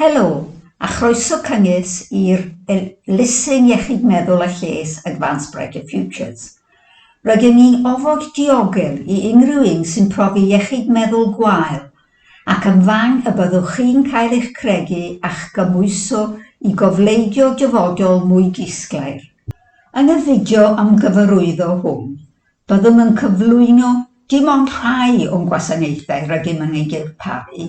Helo, a chroeso cynges i'r elusen iechyd meddwl a lles Advance Brighter Futures. Rydyn ni'n ofod diogel i unrhyw un sy'n profi iechyd meddwl gwael, ac yn fan y byddwch chi'n cael eich credu a'ch gymhwyso i gofleidio dyfodol mwy disglair. Yn y fideo ymgyfarwyddo hwn, Byddwn yn cyflwyno dim ond rhai o'n gwasanaethau rydym yn eu dirparu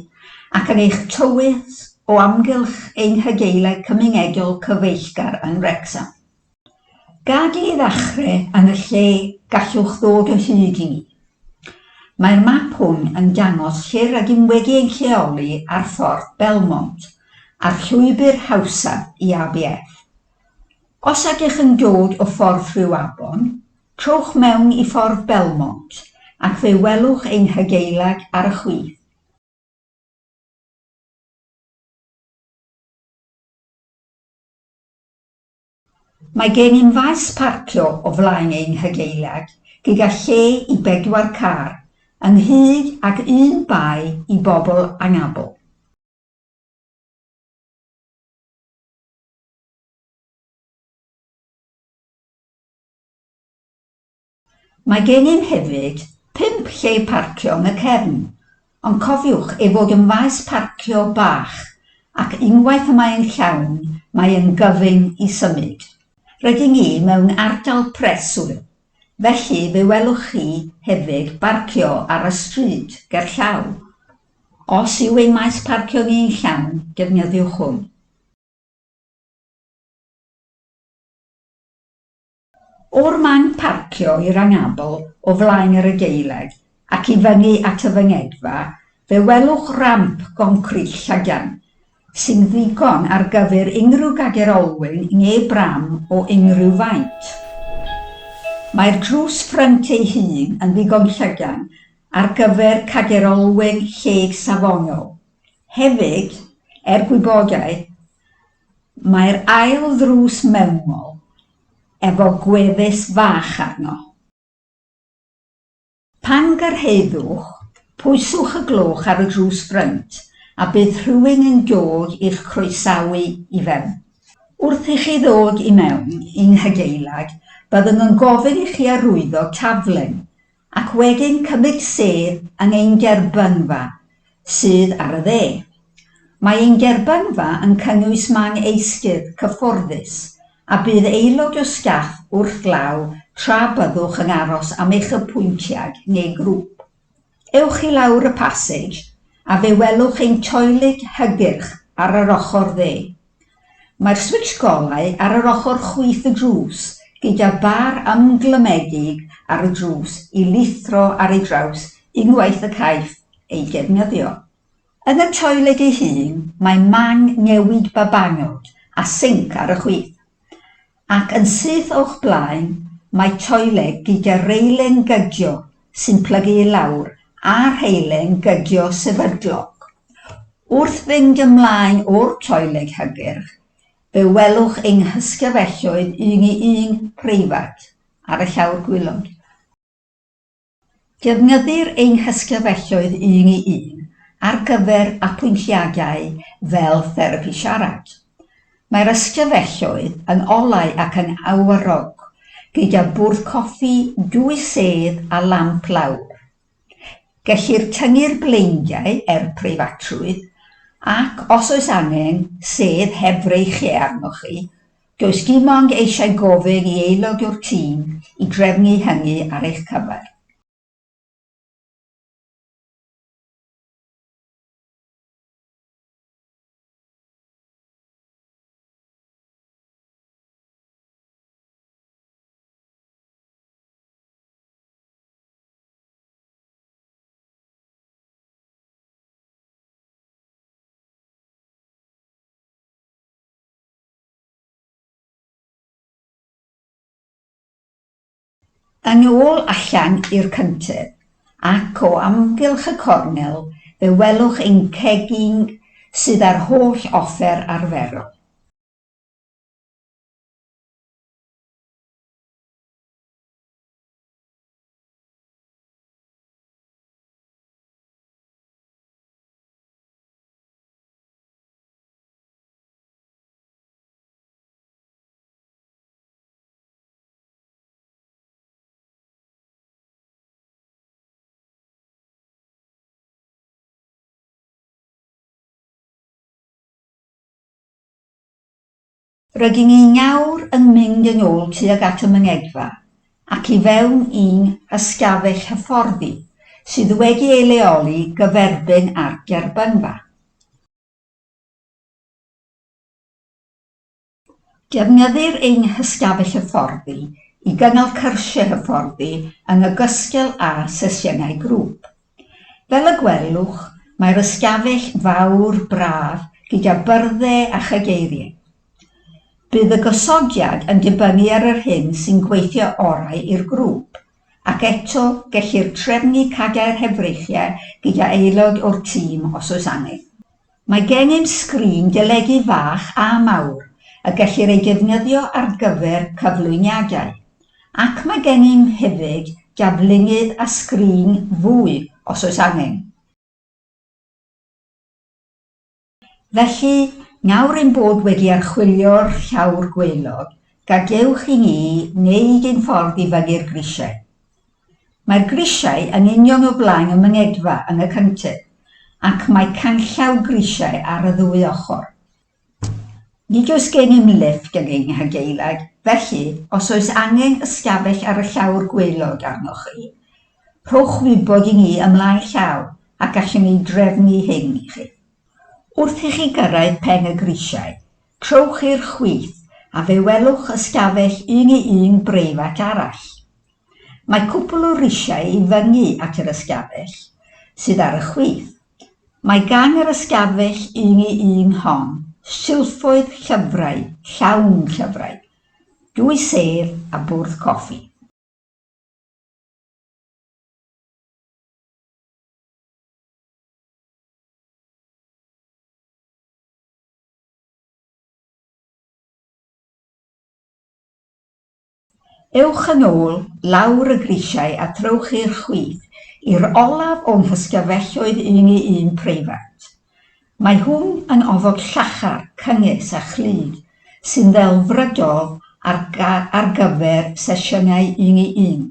ac yn eich tywys o amgylch ein hygeileg cymunedol cyfeillgar yn Wrecsam. Gad i ddechrau yn y lle gallwch ddod o hyd i ni. Mae'r map hwn yn dangos lle rydym wedi ein lleoli ar Ffordd Belmont a'r llwybr hawsaf i ABF. Os ydych yn dod o Ffordd Rhiw Afon, Trowch mewn i Ffordd Belmont ac fe welwch ein hadeilad ar y chwith. Mae gennym faes parcio o flaen ein hadeilad gyda lle i bedwar car, ynghyd ag un bae i bobl anabl. Mae gennym hefyd pump lle parcio yn y cefn, ond cofiwch ei fod yn faes parcio bach ac unwaith y mae'n llawn mae yn gyfyng i symud. Rydyn ni mewn ardal preswyl, felly fe welwch chi hefyd barcio ar y stryd gerllaw. Os yw ein maes parcio ni yn llawn, defnyddiwch hwn. O'r man parcio i'r anabl o flaen yr adeilad ac i fyny at y fynedfa, fe welwch ramp goncrit llydan, sy'n ddigon ar gyfer unrhyw gadair olwyn neu bram o unrhyw faint. Mae'r drws ffrynt ei hun yn ddigon llydan ar gyfer cadair olwyn lleg safonol. Hefyd, er gwybodaeth, Mae'r ail ddrws mewnol efo gwefus fach arno. Pan gyrhaeddwch, pwyswch y gloch ar y drws ffrynt a bydd rhywun yn dod i'ch croesawu i fewn. Wrth i chi ddod i mewn i'n hadeilad, byddwn yn gofyn i chi arwyddo taflen ac wedyn cymryd sedd yng ein gerbynfa sydd ar y dde. Mae ein gerbynfa yn cynnwys man eistedd cyfforddus a bydd aelod o staff wrth law tra byddwch yn aros am eich apwyntiad neu grŵp. Ewch i lawr y pasage a fe welwch ein toiled hygyrch ar yr ochr dde. Mae'r switsh golau ar yr ochr chwith y drws, gyda bar ymglymedig ar y drws i lithro ar ei draws unwaith y caiff ei defnyddio. Yn y toiled ei hun, mae man newid babanod a sinc ar y chwith. Ac yn syth o'ch blaen mae toiled gyda reilen gydio sy'n plygu i lawr a rheilen gydio sefydlog. Wrth fynd ymlaen o'r toiled hygyrch, fe welwch ein hysgyfelloedd un-i-un preifat ar y llawr gwaelod. Defnyddir ein hysglyfelloedd un i un ar gyfer apwyntiadau fel therapi siarad. Mae'r ysglyfelloedd yn olau ac yn awyr-rog, gyda bwrdd coffi, dwy sedd a lamp lawr. Gellir tyngu'r bleidiau er preifatrwydd ac, os oes angen, sedd heb freichiau arnoch chi, Does dim ond eisiau gofyn i aelod o'r tîm i drefnu hynny ar eich cyfer. Yn ôl allan i'r cyntedd, ac o amgylch y cornel, fe welwch ein cegin sydd â'r holl offer arferol. Rydyn ni nawr yn mynd yn ôl tuag at y mynyddfa ac i fewn i'n hystafell hyfforddi sydd wedi ei leoli gyferbyn â'r gerbynfa. Defnyddir ein hystafell hyfforddi i gynnal cyrsiau hyfforddi yn ogystal â sesiynau grŵp. Fel y gwelwch, mae'r ystafell fawr braf gyda byrddau a chadeiriau. Bydd y gosodiad yn dibynnu ar yr hyn sy'n gweithio orau i'r grŵp, ac eto, gellir trefnu cadair hefreichiau gyda aelod o'r tîm os oes angen. Mae gennym sgrin deledu fach a mawr y gellir ei defnyddio ar gyfer cyflwyniadau, ac mae gennym hefyd daflunydd a sgrin fwy os oes angen. Felly, nawr ein bod wedi archwilio'r llawr gwaelod, gadewch i ni wneud ein ffordd i fyny'r grisiau. Mae'r grisiau yn union o flaen y mynyddfa yn y cyntedd, ac mae canllaw grisiau ar y ddwy ochr. Nid oes gennym lifft yn ein hadeilad, felly, os oes angen ystafell ar y llawr gwaelod arnoch chi, rhowch wybod i ni ymlaen llaw a gallwn ei drefnu hyn i chi. Wrth i chi gyrraedd pen y grisiau, Trowch i'r chwith a fe welwch ystafell un i un breifat arall. Mae cwpl o risiau i fyngu at yr ystafell sydd ar y chwith. Mae gan yr ystafell un i un hon silffoedd llyfrau, llawn llyfrau, dwy sedd a bwrdd coffi. Ewch yn ôl lawr y grisiau a throwch i'r chwith, i'r olaf o'm hysgafelloedd un i un preifat. Mae hwn yn ofod llachar, cynnes a chlyd, sy'n ddelfrydol ar ar gyfer sesiynau un i un.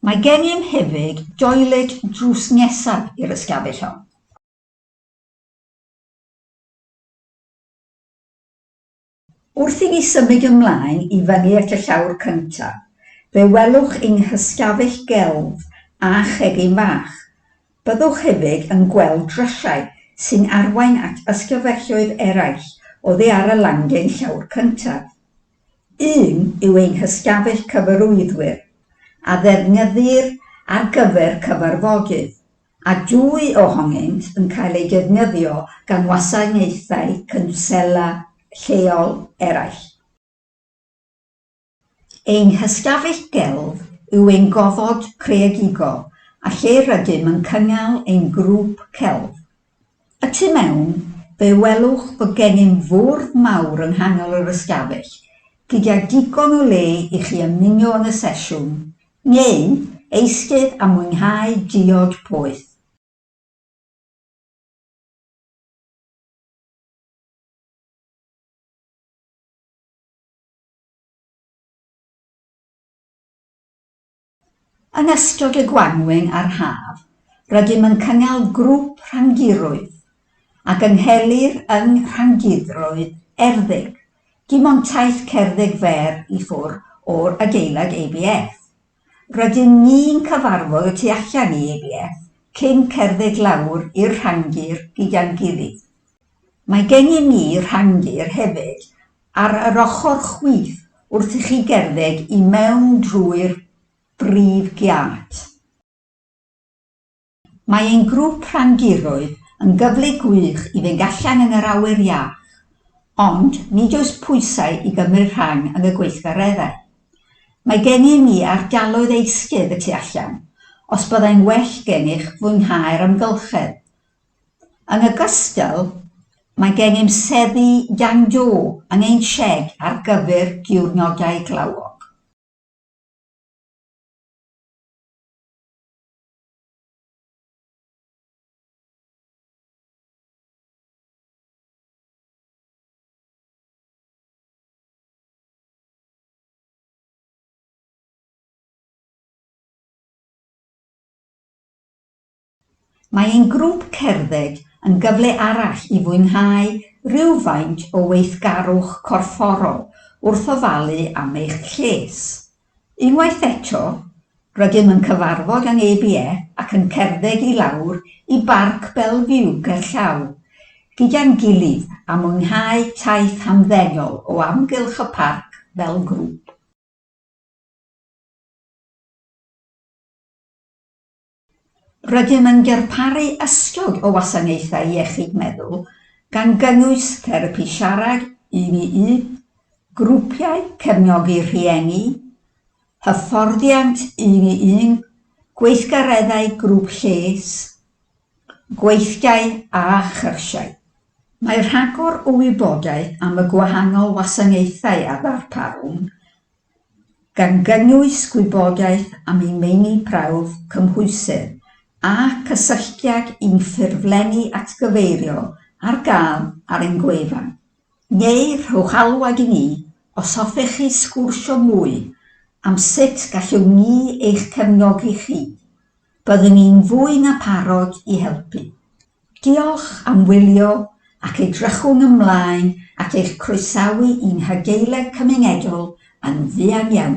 Mae gennym hefyd doiled drws nesaf i'r ystafell hon. Wrth i ni symud ymlaen i fyny at y llawr cyntaf, fe welwch yng nghysgafell gelf a chegin fach. Byddwch hefyd yn gweld drysiau sy'n arwain at ysgyfelloedd eraill oddi ar y landin llawr cyntaf. Un yw ein hysgafell cyfarwyddwyr, a ddefnyddir ar gyfer cyfarfodydd. a dwy ohonynt yn cael eu defnyddio gan wasanaethau cwnsela lleol eraill. Ein hystafell gelf yw ein gofod creadigol a lle rydym yn cynnal ein grŵp celf. Y tu mewn, fe welwch bod gennym fwrdd mawr yng nghanol yr ystafell, gyda digon o le i chi ymuno yn y sesiwn Neu eistedd a mwynhau diod poeth. Yn ystod y gwanwyn a'r haf, rydym yn cynnal grŵp rhandiroedd a gynghelir yng Rhandiroedd Erddig Dim ond taith cerdded fer i ffwr o'r adeilad ABF. Rydyn ni'n cyfarfod y tu allan i ABF cyn cerdded lawr i'r rhandir gyda'n gilydd. Mae gennym ni rhandir hefyd ar yr ochr chwith wrth i chi gerdded i mewn drwy'r brif giât. Mae ein grŵp rhandiroedd yn gyfle gwych i fynd allan yn yr awyr iach, ond nid oes pwysau i gymryd rhan yn y gweithgareddau. Mae gennym ni ardaloedd eistedd y tu allan, os byddai'n well gennych fwynhau'r amgylchedd. Yn ogystal, mae gennym seddi dan do yn ein sied ar gyfer diwrnodau glawog. Mae ein grŵp cerdded yn gyfle arall i fwynhau rhywfaint o weithgarwch corfforol wrth ofalu am eich lles. Unwaith eto, rydym yn cyfarfod yng Ngeibie ac yn cerdded i lawr i Barc Bellevue gerllaw gyda'n gilydd a mwynhau taith hamddenol o amgylch y parc fel grŵp. Rydym yn darparu ystod o wasanaethau iechyd meddwl, gan gynnwys therapi siarad un i un, grwpiau cefnogi rhieni, hyfforddiant un i un, gweithgareddau grŵp lles, gweithdai a chyrsiau. Mae rhagor o wybodaeth am y gwahanol wasanaethau a ddarparwn gan gynnwys gwybodaeth am eu meini prawf cymhwysedd a cysylltiad i'w ffurflenni atgyfeiriol ar gael ar ein gwefan, neu rhowch alwad i ni os hoffech chi sgwrsio mwy am sut gallwn ni eich cefnogi chi Byddwn i'n fwy na pharod i helpu. Diolch am wylio ac edrychwn ymlaen at eich croesawu i'n Hadeiledd Cymunedol yn fuan iawn.